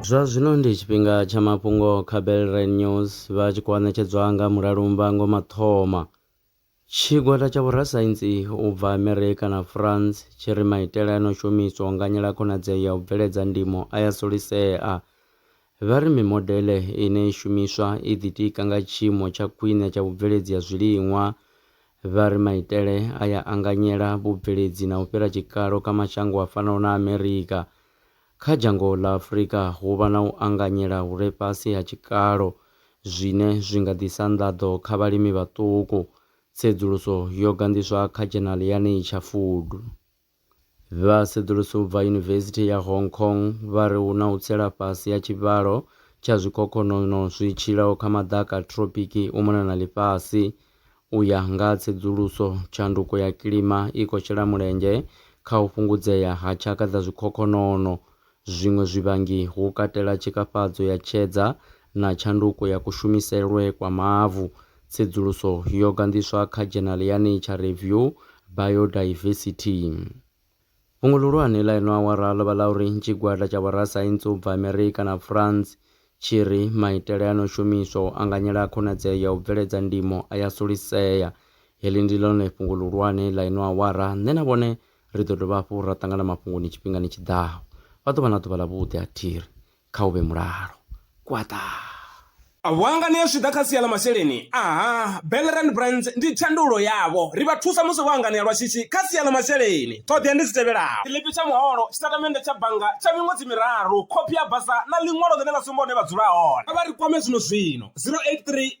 zwa zwino ndi tshifhinga tsha mafhungo kha belrain news vha tshi khou anetshedzwa nga mulalumba ngo mathoma tshigwada tsha vhorasaintsi u bva amerika na france tshi ri maitele a no shumiswa u nganyela khonadzeo ya u bveledza ndimo a ya solisea Vha ri mimodeḽe ine i shumiswa i ḓitika nga tshiimo tsha khwine tsha vhubveledzi ha zwiliṅwa. Vha ri maitele aya anganyela vhubveledzi na u fhira tshikalo kha mashango a fanaho na Amerika. Kha dzhango ḽa Afrika hu vha na u anganyela hu re fhasi ha tshikalo zwine zwi nga ḓisa nḓaḓo kha vhalimi vhaṱuku, tsedzuluso yo ganḓiswa kha dzhenali ya Nature Food. Vhasedzulusi u bva Yunivesithi ya Hong Kong vha ri hu na u tsela fhasi ha tshivhalo tsha zwikhokhonono zwi tshilaho kha maḓaka a thropiki u mona na ḽifhasi. U ya nga ha tsedzuluso, tshanduko ya kilima i khou shela mulenzhe kha u fhungudzea ha tshaka dza zwikhokhonono Zwiṅwe zwivhangi hu katela tshikafhadzo ya tshedza na tshanduko ya kushumiselwe kwa mavu. Tsedzuluso yo ganḓiswa kha dzhenali ya Nature Review, Biodiversity. Fhungo ḽihulwane ḽa ino awara ḽo vha ḽa uri tshigwada tsha vhorasaintsi u bva Amerika na France tshi ri maitele a no shumiswa u anganyela khonadzeo ya u bveledza ndimo a ya sulisea. Heḽi ndi ḽone fhungo ḽihulwane ḽa ino awara, nṋe na vhone Ri ḓo dovha hafhu ra ṱangana mafhungoni tshifhingani tshi ḓaho. Vha ḓo vha na ḓuvha ḽavhuḓi ha thiri. Kha hu vhe mulalo. Gwaḓa! A vho hanganea zwi tshi ḓa kha sia ḽa masheleni? Aha, Bell Rand Brands ndi thandululo yavho. Ri vha thusa musi vho hanganea lwa shishi kha sia ḽa masheleni. Ṱhoḓea ndi dzi tevhelaho. Tshiḽipi tsha muholo, tshitatamennde tsha bannga tsha miṅwedzi miraru, khophi ya basa na ḽiṅwalo ḽine ḽa sumba hune vha dzula hone. Kha vha ri kwame zwino-zwino, 083.